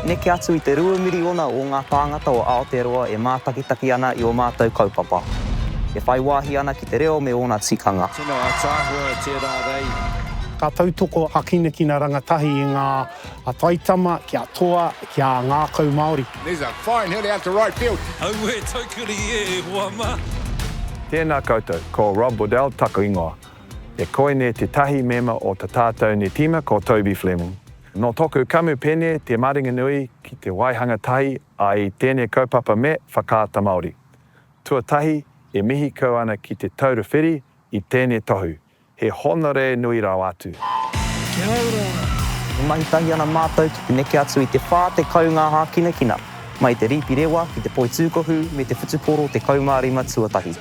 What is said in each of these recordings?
Neke atu i te rua miriona o ngā tāngata o Aotearoa e mātakitaki ana i ō mātou kaupapa, e whai wāhi ana ki te reo me ōna tikanga. Tino ataahua tērā rei. Ka tautoko a Kinakina Rangatahi i ngā a Taitama ki a Toa ki a Ngākau Māori. There's a fine hit out to right field. Auē taukuri e hoa ma. Tēnā koutou, ko Rob Waddell taku ingoa. E koinei tētahi mema o ta tātou ni tīma ko Toby Fleming. Nō tōku kamupene te maringanui ki te waihanga tahi ai tēnei kaupapa me Whakaata Māori. Tuatahi, e mihi kau ana ki Te Taura Whiri i tēnei tohu, he hōnore nui rawa atu. Kia ora! E mahi tahi ana mātou ki te neke atu i te 40 ngā hākinakina, mai te rīpi rewa ki te poi tūkohu me te whutupōro 15 tuatahi.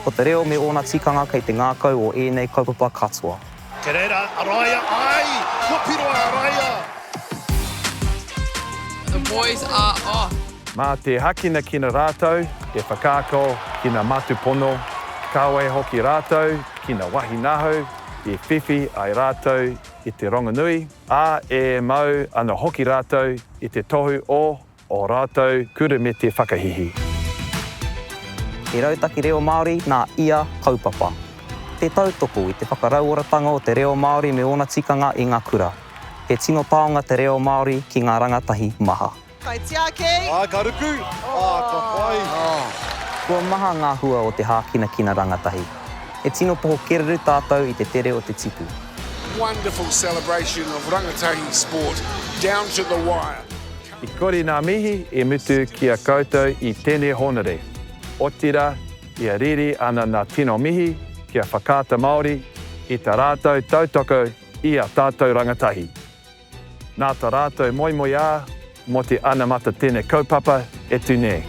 Ko te reo me ōna tikanga kei te ngākau o ēnei kaupapa katoa. Kei reira a Raia, ae! Kua piro a Raia! The boys are off. Mā te hākinakina rātou e whakaako ki ngā mātupono, kāore hoki rātou ki ngā wāhi nahau i whiwhi ai rātou i te rongonui, ā, e mau ana hoki rātou i te tohu o. Ō rātou kurumete whakahihi. Te Rautaki Reo Māori nā ia kaupapa. Te tautoko i te whakarauoratanga o te reo Māori me ōna tikanga i ngā kura. He tino taonga te reo Māori ki ngā rangatahi maha. Kai tiaki! Āe, ka ruku! Ā, ka pai! Kua maha ngā hua o te hākinakina rangatahi. He tino poho kereru tātou i te tere o te tipu. Wonderful celebration of rangatahi sport down to the wire. I kore nā mihi i mutu ki a koutou i tēnei hōnore, otirā ia riri ana nā tino mihi ki a Whakaata Māori i tā rātou tautoko i a tātou rangatahi. Nā tā rātou moemoeā mō te anamata tēnei kaupapa e tū nei.